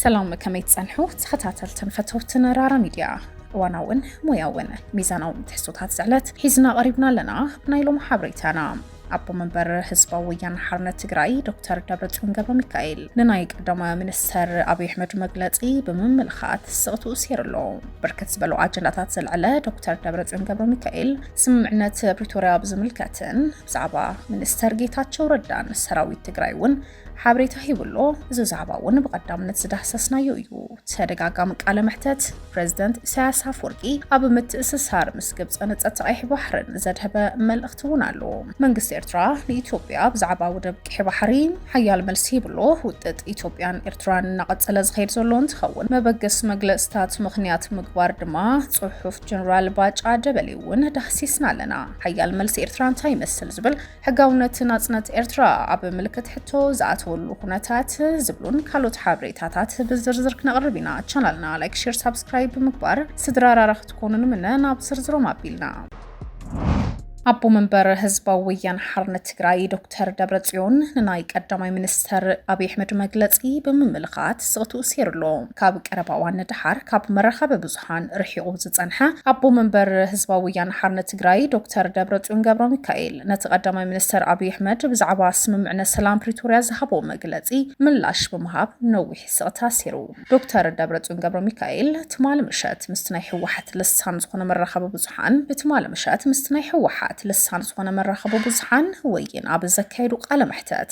ሰላም ከመይ ትጸንሑ ተኸታተልትን ፈተውትን ራራ ሚድያ እዋናውን ሞያውን ሚዛናውን ትሕዝቶታት ዝዕለት ሒዝና ቀሪብና ኣለና ብናይ ሎሚ ሓበሬታና ኣቦ መንበር ህዝባዊ ወያነ ሓርነት ትግራይ ዶክተር ደብረፅዮን ገብረ ሚካኤል ንናይ ቀዳመ ሚኒስተር ኣብዪ ኣሕመድ መግለፂ ብምምልኻት ስቕትኡ ሴሩ ኣሎ። ብርክት ዝበሉ ኣጀንዳታት ዘልዕለ ዶክተር ደብረፅዮን ገብረ ሚካኤል ስምምዕነት ፕሪቶርያ ብዝምልከትን ብዛዕባ ሚኒስተር ጌታቸው ረዳን ሰራዊት ትግራይ እውን ሓበሬታ ሂቡ'ሎ። እዚ ዛዕባ እውን ብቐዳምነት ዝዳህሰስናዮ እዩ። ተደጋጋሚ ቃለ መሕተት ፕረዚደንት ኢሳያስ ኣፍወርቂ ኣብ ምትእስሳር ምስ ግብጽን ንጸጥታ ቀይሕ ባሕርን ዘድሀበ መልእኽቲ እውን ኣሎ። መንግስቲ ኤርትራ ንኢትዮጵያ ብዛዕባ ወደብ ቀይሕ ባሕሪ ሓያል መልሲ ሂቡ'ሎ። ውጥጥ ኢትዮጵያን ኤርትራን እናቐጸለ ዝኸይድ ዘሎ እንትኸውን መበገሲ መግለጽታት ምኽንያት ምግባር ድማ ጽሑፍ ጀነራል ባጫ ደበሌ እውን ዳህሲስና ኣለና። ሓያል መልሲ ኤርትራ እንታይ ይመስል ዝብል ሕጋውነት ናጽነት ኤርትራ ኣብ ምልክት ሕቶ ዝኣተወሉ ኩነታት ዝብሉን ካልኦት ሓበሬታታት ብዝርዝር ክነቕርብ ኢና። ቻናልና ላይክ፣ ሼር፣ ሳብስክራይብ ብምግባር ስድራ ራራ ክትኮኑ ንምነ። ናብ ዝርዝሮም ኣቢልና ኣቦ መንበር ህዝባዊ ወያነ ሓርነት ትግራይ ዶክተር ደብረጽዮን ንናይ ቀዳማይ ሚኒስተር ኣብዪ ኣሕመድ መግለጺ ብምምልኻት ስቕትኡ ሴሩ ኣሎ። ካብ ቀረባ እዋን ንደሓር ካብ መራኸቢ ፖለቲካን ርሒቑ ዝጸንሐ ኣቦ መንበር ህዝባዊ ወያነ ሓርነት ትግራይ ዶክተር ደብረጽዮን ገብረሚካኤል ነቲ ቀዳማይ ሚኒስተር ኣብዪ ኣሕመድ ብዛዕባ ስምምዕነት ሰላም ፕሪቶርያ ዝሃቦ መግለጺ ምላሽ ብምሃብ ነዊሕ ስቕታ ኣሲሩ። ዶክተር ደብረጽዮን ገብረሚካኤል ትማሊ ምሸት ምስቲ ናይ ህወሓት ልሳን ዝኾነ መራኸቢ ብዙሓን ብትማሊ ምሸት ምስቲ ናይ ህወሓት ልሳን ዝኾነ መራኸቢ ብዙሓን ወይን ኣብ ዘካየዱ ቃለ መሕተት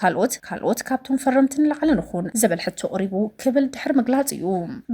ካልኦት ካልኦት ካብቶም ፈረምቲ ንላዕሊ ንኹን ዝብል ሕቶ ቕሪቡ ክብል ድሕሪ ምግላፅ እዩ።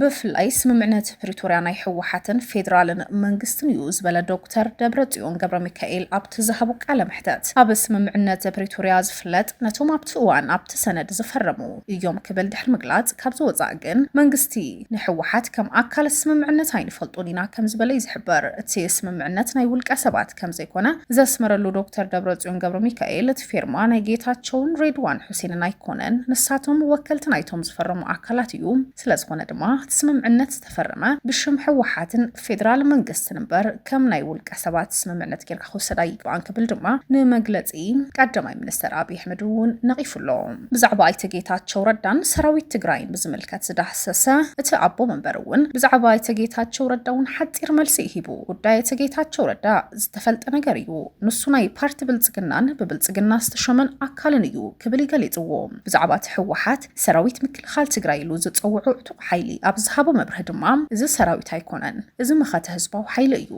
ብፍላይ ስምምዕነት ፕሪቶርያ ናይ ህወሓትን ፌዴራልን መንግስትን እዩ ዝበለ ዶክተር ደብረፅዮን ገብረሚካኤል ኣብቲ ዝሃቦ ቃለ መሕተት ኣብ ስምምዕነት ፕሪቶርያ ዝፍለጥ ነቶም ኣብቲ እዋን ኣብቲ ሰነድ ዝፈረሙ እዮም ክብል ድሕሪ ምግላፅ ካብዚ ወፃእ ግን መንግስቲ ንሕወሓት ከም ኣካል እቲ ስምምዕነት ኣይንፈልጦን ኢና ከምዝበለ እዩ ዝሕበር። እቲ ስምምዕነት ናይ ውልቀ ሰባት ከምዘይኮነ ዘስመረሉ ዶክተር ደብረፅዮን ገብረሚካኤል እቲ ፌርማ ናይ ጌታቸውን ሬድዋን ሑሴንን ኣይኮነን ንሳቶም ወከልቲ ናይቶም ዝፈረሙ ኣካላት እዩ ስለዝኾነ ድማ እቲ ስምምዕነት ዝተፈረመ ብሽም ሕወሓትን ፌደራል መንግስቲ እምበር ከም ናይ ውልቀ ሰባት ስምምዕነት ጌርካ ክውሰድ ኣይግባእን ክብል ድማ ንመግለፂ ቀዳማይ ሚኒስትር ኣብይ ኣሕመድ እውን ነቒፉ ኣሎ። ብዛዕባ ኣይተ ጌታቸው ረዳን ሰራዊት ትግራይን ብዝምልከት ዝዳህሰሰ እቲ ኣቦ መንበር እውን ብዛዕባ ኣይተ ጌታቸው ረዳ እውን ሓፂር መልሲ እዩ ሂቡ። ጉዳይ ኣይተ ጌታቸው ረዳ ዝተፈልጠ ነገር እዩ። ንሱ ናይ ፓርቲ ብልፅግናን ብብልፅግና ዝተሾመን ኣካልን እዩ ክብል እዩ ገሊፅዎ። ብዛዕባ እቲ ህወሓት ሰራዊት ምክልኻል ትግራይ ኢሉ ዝፀውዖ ዕጡቕ ሓይሊ ኣብ ዝሃቦ መብርሂ ድማ እዚ ሰራዊት ኣይኮነን፣ እዚ መኸተ ህዝባዊ ሓይሊ እዩ፣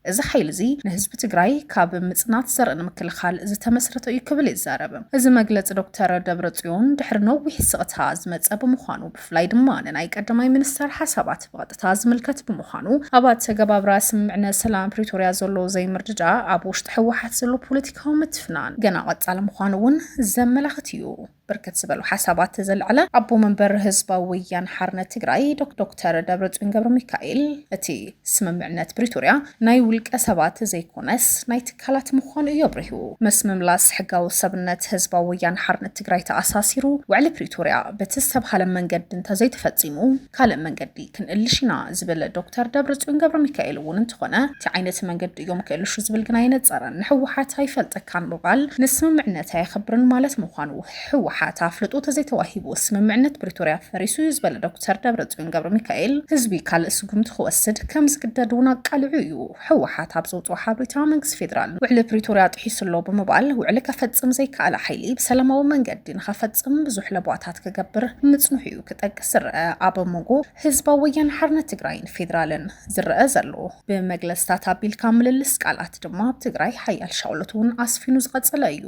እዚ ሓይሊ እዚ ንህዝቢ ትግራይ ካብ ምፅናት ዘርኢ ንምክልኻል ዝተመስረተ እዩ ክብል ይዛረብ። እዚ መግለፂ ዶክተር ደብረፅዮን ድሕሪ ነዊሕ ስቕታ ዝመፀ ብምዃኑ ብፍላይ ድማ ንናይ ቀዳማይ ሚኒስተር ሓሳባት ብቐጥታ ዝምልከት ብምዃኑ ኣብ ኣተገባብራ ስምምዕነት ሰላም ፕሪቶርያ ዘሎ ዘይምርድዳእ ኣብ ውሽጢ ህወሓት ዘሎ ፖለቲካዊ ምትፍናን ገና ቀፃሊ ምዃኑ እውን ዘመላኽት እዩ። ብርክት ዝበሉ ሓሳባት ዘልዐለ ኣቦ መንበር ህዝባዊ ወያነ ሓርነት ትግራይ ዶክተር ደብረፅዮን ገብረሚካኤል እቲ ስምምዕነት ፕሪቶርያ ናይ ውልቀ ሰባት ዘይኮነስ ናይ ትካላት ምዃኑ እዩ ኣብሪሁ። ምስ ምምላስ ሕጋዊ ሰብነት ህዝባዊ ወያነ ሓርነት ትግራይ ተኣሳሲሩ ውዕሊ ፕሪቶርያ በቲ ዝተብሃለ መንገዲ እንተዘይተፈፂሙ፣ ካልእ መንገዲ ክንእልሽ ኢና ዝብል ዶክተር ደብረፅዮን ገብረሚካኤል እውን እንተኾነ ታይ ዓይነት መንገዲ እዮም ክእልሹ ዝብል ግና ኣይነፀረን። ንህወሓት ኣይፈልጠካን ምባል ንስምምዕነት ኣየኽብርን ማለት ምዃኑ ህወሓት ኣፍልጦ ተዘይተዋሂቡ ስምምዕነት ፕሪቶርያ ፈሪሱ እዩ ዝበለ ዶክተር ደብረፅዮን ገብረሚካኤል ህዝቢ ካልእ ስጉምቲ ክወስድ ከምዝግደድ እውን ኣቃሊዑ እዩ። ህወሓት ኣብ ዘውፅኦ ሓበሬታ መንግስቲ ፌዴራል ውዕሊ ፕሪቶርያ ጥሒሱ ኣሎ ብምባል ውዕሊ ከፈፅም ዘይከኣለ ሓይሊ ብሰላማዊ መንገዲ ንኸፈፅም ብዙሕ ለበዋታት ክገብር ምፅንሑ እዩ ክጠቅስ ዝረኣ ኣብ መንጎ ህዝባዊ ወያነ ሓርነት ትግራይን ፌዴራልን ዝረኣ ዘሎ ብመግለፅታት ኣቢልካ ምልልስ ቃላት ድማ ኣብ ትግራይ ሓያል ሻቕሎት እውን ኣስፊኑ ዝቐፀለ እዩ።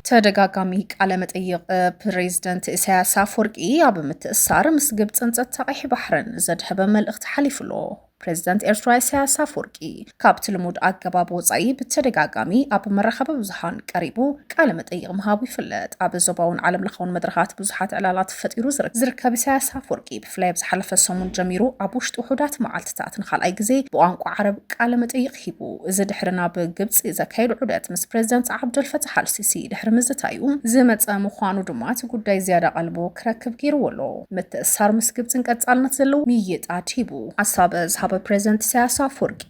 ተደጋጋሚ ቃለ መጠይቕ ፕሬዝደንት ኢሳያስ ኣፈወርቂ ኣብ ምትእሳር ምስ ግብፅን ፀጥታ ቀይሕ ባሕርን ዘድሀበ መልእኽቲ ሓሊፉ ኣሎ። ፕሬዚደንት ኤርትራ ኢሳያስ ኣፈወርቂ ካብቲ ልሙድ ኣገባብ ወፃኢ ብተደጋጋሚ ኣብ መራኸቢ ብዙሃን ቀሪቡ ቃለ መጠይቕ ምሃቡ ይፍለጥ። ኣብ ዞባውን ዓለም ለኻውን መድረኻት ብዙሓት ዕላላት ፈጢሩ ዝርከብ ኢሳያስ ኣፈወርቂ ብፍላይ ኣብ ዝሓለፈ ሰሙን ጀሚሩ ኣብ ውሽጢ ውሑዳት መዓልትታት ንካልኣይ ግዜ ብቋንቋ ዓረብ ቃለ መጠይቕ ኣረኪቡ። እዚ ድሕሪ ናብ ግብጺ ዘካየዱ ዑደት ምስ ፕረዚደንት ዓብደልፈታሕ ኣልሲሲ ድሕሪ ምዝታዩ ዝመጸ ምዃኑ ድማ እቲ ጉዳይ ዝያዳ ቀልቡ ክረክብ ገይርዎ ኣሎ። ምትእስሳር ምስ ግብጺን ቀጻልነት ዘለዎ ምይይጣት ሂቡ። ሓሳብ ዝሃበ ፕረዚደንት ኢሳያስ ኣፍወርቂ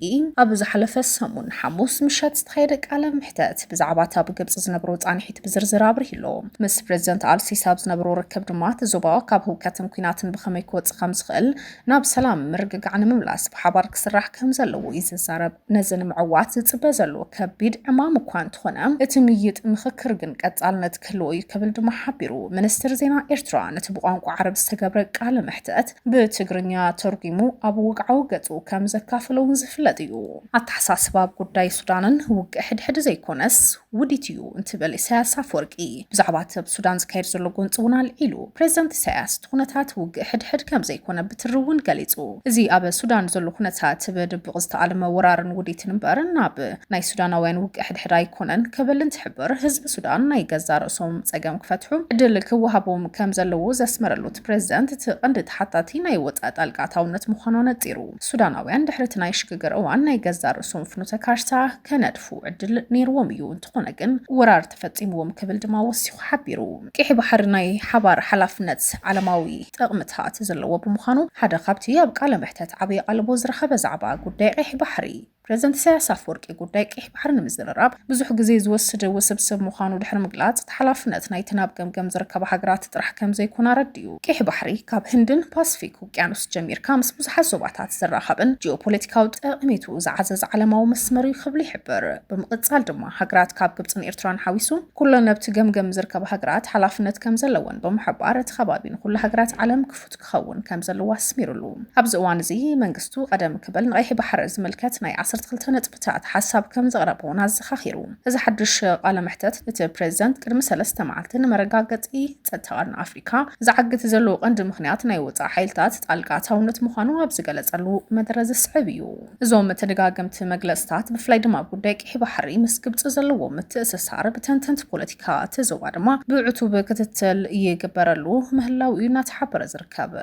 ኣብ ዝሓለፈ ሰሙን ሓሙስ ምሸት ዝተኻየደ ቃለ መሕተት ብዛዕባ እቲ ኣብ ግብጺ ዝነብሮ ጻንሒት ብዝርዝር ኣብሪሁ ኣሎ። ምስ ፕረዚደንት ኣልሲሲ ኣብ ዝነበሮ ርክብ ድማ እቲ ዞባ ካብ ህውከትን ኲናትን ብኸመይ ክወጽእ ከምዝኽእል ናብ ሰላም ምርግጋዕ ንምምላስ ብሓባር ክስራሕ ከም ዘለዎ እዩ ዝዛረብ። ነዚ ንምዕዋት ዝጽበ ዘሎ ከቢድ ዕማም እኳ እንተኾነ፣ እቲ ምይይጥ ምኽክር ግን ቀጻልነት ክህልዎ እዩ ክብል ድማ ሓቢሩ። ሚኒስትር ዜና ኤርትራ ነቲ ብቋንቋ ዓረብ ዝተገብረ ቃለ መሕተት ብትግርኛ ተርጒሙ ኣብ ወግዓዊ ገጹ ከም ዘካፈሎ'ውን ዝፍለጥ እዩ። ኣተሓሳስባ ኣብ ጉዳይ ሱዳንን ውግእ ሕድሕድ ዘይኮነስ፣ ውዲት እዩ እንትብል ኢሳያስ ኣፍወርቂ ብዛዕባ እቲ ኣብ ሱዳን ዝካየድ ዘሎ ጎንፂ እውን ኣልዒሉ። ፕሬዚዳንት ኢሳያስ እቲ ኩነታት ውግእ ሕድሕድ ከምዘይኮነ ብትሪ እውን ገሊፁ። እዚ ኣብ ሱዳን ዘሎ ኩነታት ብድብቕ ዝተኣልመ ወራርን ውዲትን እምበር ናብ ናይ ሱዳናውያን ውግእ ሕድሕድ ኣይኮነን ክብል እንትሕብር ህዝቢ ሱዳን ናይ ገዛእ ርእሶም ፀገም ክፈትሑ ዕድል ክወሃቦም ከምዘለዎ ዘስመረሉ እቲ ፕሬዚዳንት እቲ ቐንዲ ተሓታቲ ናይ ወፃኢ ጣልቃ ኣታውነት ምዃኑ ኣነፂሩ። ሱዳናውያን ድሕሪ እቲ ናይ ሽግግር እዋን ናይ ገዛእ ርእሶም ፍኖተ ካርታ ከነድፉ ዕድል ነይርዎም እዩ፣ እንተኾነ ግን ወራር ተፈጺምዎም ክብል ድማ ወሲኹ ሓቢሩ። ቂሒ ባሕሪ ናይ ሓባር ሓላፍነት ዓለማዊ ጠቕምታት ዘለዎ ብምዃኑ ሓደ ካብቲ ኣብ ቃለ መሕተት ዓቢ ኣቓልቦ ዝረኸበ ዛዕባ ጉዳይ ቂሒ ባሕሪ ፕረዚደንት ኢሳያስ ኣፍወርቂ ጉዳይ ቂሒ ባሕሪ ንምዝርራብ ብዙሕ ግዜ ዝወስድ ውስብስብ ምዃኑ ድሕሪ ምግላጽ እቲ ሓላፍነት ናይተን ኣብ ገምገም ዝርከባ ሃገራት ጥራሕ ከምዘይኮነ ኣረዲኡ። ቂሒ ባሕሪ ካብ ህንድን ፓስፊክ ውቅያኖስ ጀሚርካ ምስ ብዙሓት ዞባታት ዝራኸብን ጂኦፖለቲካዊ ጠቕሚቱ ዝዓዘዘ ዓለማዊ መስመር እዩ ክብል ይሕብር። ብምቕጻል ድማ ሃገራት ካብ ግብጽን ኤርትራን ሓዊሱ ኩለን ኣብቲ ገምገም ዝርከባ ሃገራት ሓላፍነት ከም ዘለወን ብምሕባር እቲ ከባቢ ንኹሉ ሃገራት ዓለም ክፉት ክኸውን ከም ዘለዎ ኣስሚርሉ። ኣብዚ እዋን እዚ መንግስቱ ቀደም ክብል ንቀይሕ ባሕሪ ዝምልከት ናይ ዓሰርተ ክልተ ነጥብታት ሓሳብ ከም ዘቕረበ እውን ኣዘኻኺሩ። እዚ ሓድሽ ቃለ መሕተት እቲ ፕሬዚደንት ቅድሚ ሰለስተ መዓልቲ ንመረጋገጺ ጸጥታ ቀርኒ ኣፍሪቃ ኣመሪካ ዝዓግት ዘለዎ ቀንዲ ምኽንያት ናይ ወፃኢ ሓይልታት ጣልቃ ኣታውነት ምዃኑ ኣብ ዝገለፀሉ መደረ ዝስዕብ እዩ። እዞም ተደጋገምቲ መግለፅታት ብፍላይ ድማ ጉዳይ ቂሒ ባሕሪ ምስ ግብፂ ዘለዎ ምትእስሳር ብተንተንቲ ፖለቲካ እቲ ዞባ ድማ ብዕቱብ ክትትል ይግበረሉ ምህላው እዩ እናተሓበረ ዝርከብ።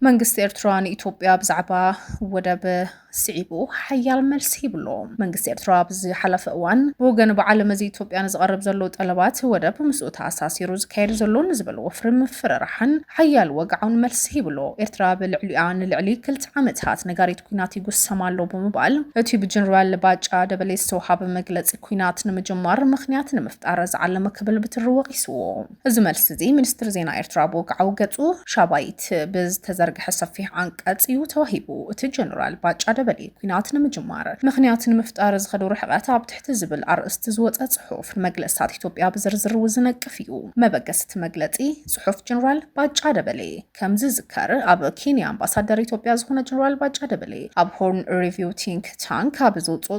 መንግስቲ ኤርትራ ንኢትዮጵያ ብዛዕባ ወደብ ስዒቡ ሓያል መልሲ ይብሎ። መንግስቲ ኤርትራ ኣብ ዝሓለፈ እዋን ብወገን በዓል መዚ ኢትዮጵያ ንዝቐርብ ዘሎ ጠለባት ወደብ ምስኡ ተኣሳሲሩ ዝካየድ ዘሎ ንዝበል ወፍሪ ምፍርራሕን ሓያል ወግዓውን መልሲ ሂብሎ። ኤርትራ ኣብ ልዕሊኣ ንልዕሊ ክልተ ዓመታት ነጋሪት ኲናት ይጉሰም ኣሎ ብምባል እቲ ብጀነራል ባጫ ደበሌ ዝተውሃበ መግለጺ ኲናት ንምጅማር ምኽንያት ንምፍጣር ዝዓለመ ክብል ብትሪ ወቒስዎ። እዚ መልሲ'ዚ ሚኒስትሪ ዜና ኤርትራ ብወግዓዊ ገጹ ሻባይት ብዝተዘርግሐ ሰፊሕ ዓንቀጽ እዩ ተዋሂቡ። እቲ ጀነራል ባጫ ደበሌ ኲናት ንምጅማር ምኽንያት ንምፍጣር ዝኸዶ ርሕቐት ኣብ ትሕቲ ዝብል ኣርእስቲ ዝወጸ ጽሑፍ ንመግለጽታት ኢትዮጵያ ብዝርዝር እውን ዝነቅፍ እዩ። መበገሲ እቲ መግለጺ ጽሑፍ ጀነራል ባጫ ደበሌ ከም ዝዝከር ኣብ ኬንያ ኣምባሳደር ኢትዮጵያ ዝኾነ ጀነራል ባጫ ደበሌ ኣብ ሆርን ሪቪው ቲንክ ታንክ ኣብ ዘውጽኦ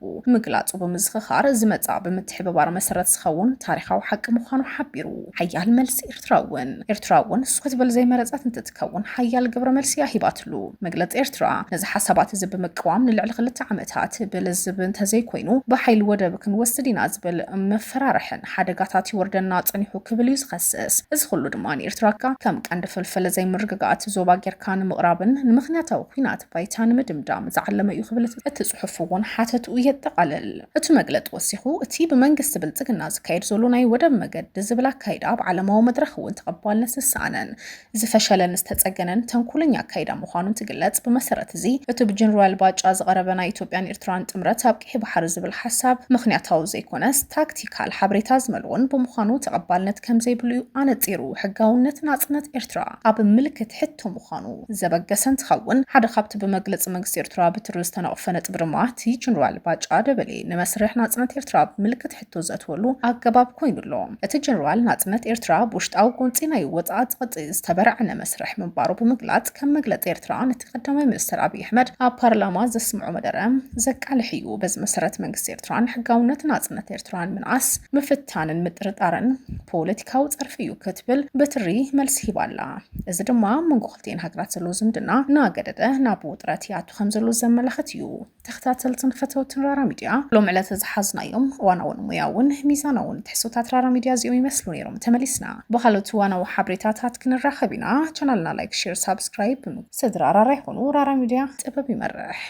ብ ምግላጹ ብምዝኽኻር፣ እዚ መጻኢ ብምትሕብባር መሰረት ዝኸውን ታሪኻዊ ሓቂ ምዃኑ ሓቢሩ። ሓያል መልሲ ኤርትራ እውን። ኤርትራ እውን ንሱ ክትብል ዘይመረጸት እንትትከውን ሓያል ግብረ መልሲ እያ ሂባትሉ። መግለጺ ኤርትራ ነዚ ሓሳባት እዚ ብምቅዋም ንልዕሊ ክልተ ዓመታት ብልዝብ እንተዘይኮይኑ ብሓይሊ ወደብ ክንወስድ ኢና ዝብል መፈራርሕን ሓደጋታት ይወርደና ጸኒሑ ክብል እዩ ዝኸስስ። እዚ ኩሉ ድማ ንኤርትራ ከም ቀንዲ ፍልፍል ዘይምርግጋእ እቲ ዞባ ጌርካ ንምቕራብን ንምኽንያታዊ ኲናት ባይታ ንምድምዳም ዝዓለመ እዩ ክብል እቲ ጽሑፍ እውን ሓተትኡ የጠቓልል። እቲ መግለጢ ወሲኹ፣ እቲ ብመንግስቲ ብልጽግና ዝካየድ ዘሎ ናይ ወደብ መገዲ ዝብል ኣካይዳ ኣብ ዓለማዊ መድረኽ እውን ተቐባልነት ዝሰኣነን ዝፈሸለን ዝተጸገነን ተንኮለኛ ኣካይዳ ምዃኑ እንትግለጽ፣ ብመሰረት እዚ እቲ ብጀነራል ባጫ ዝቐረበ ናይ ኢትዮጵያን ኤርትራን ጥምረት ኣብ ቀይሕ ባሕሪ ዝብል ሓሳብ ምኽንያታዊ ዘይኮነስ ታክቲካል ሓበሬታ ዝመልኦን ብምዃኑ ተቐባልነት ከምዘይብሉ እዩ ኣነጺሩ። ሕጋውነት ናጽነት ኤርትራ ኣብ ምልክት ሕቶ ምዃኑ ዘበገሰ እንትኸውን፣ ሓደ ካብቲ ብመግለጺ መንግስቲ ኤርትራ ብትሪ ዝተነቕፈ ነጥቢ ድማ እቲ ጀነራል ባጫ ደበሌ ንመስርሕ ናጽነት ኤርትራ ብምልክት ሕቶ ዘእትወሉ ኣገባብ ኮይኑ ኣሎ። እቲ ጀነራል ናጽነት ኤርትራ ብውሽጣዊ ጎንጺ ናይ ወጻኢ ጸቕጢ ዝተበራዕነ መስርሕ ምንባሩ ብምግላጽ ከም መግለጺ ኤርትራ ነቲ ቀዳማይ ሚኒስተር ኣብይ ኣሕመድ ኣብ ፓርላማ ዘስምዖ መደረ ዘቃልሕ እዩ። በዚ መሰረት መንግስቲ ኤርትራ ንሕጋውነት ናጽነት ኤርትራ ንምንኣስ ምፍት ምብትታንን ምጥርጣርን ፖለቲካዊ ፀርፊ እዩ ክትብል ብትሪ መልሲ ሂባ ኣላ። እዚ ድማ ኣብ መንጎ ክልቲኤን ሃገራት ዘሎ ዝምድና እናገደደ ናብ ውጥረት ይኣቱ ከም ዘሎ ዘመላኽት እዩ። ተኸታተልትን ፈተውትን ራራ ሚድያ ሎም ዕለት ዝሓዝናዮም እዋናውን ሙያውን ሚዛናውን ትሕሶታት ራራ ሚድያ እዚኦም ይመስሉ ነይሮም። ተመሊስና ብካልኦት እዋናዊ ሓብሬታታት ክንራኸብ ኢና። ቻናልና ላይክ፣ ሼር፣ ሳብስክራይብ ስድራ ራራ ይኹኑ። ራራ ሚድያ ጥበብ ይመርሕ።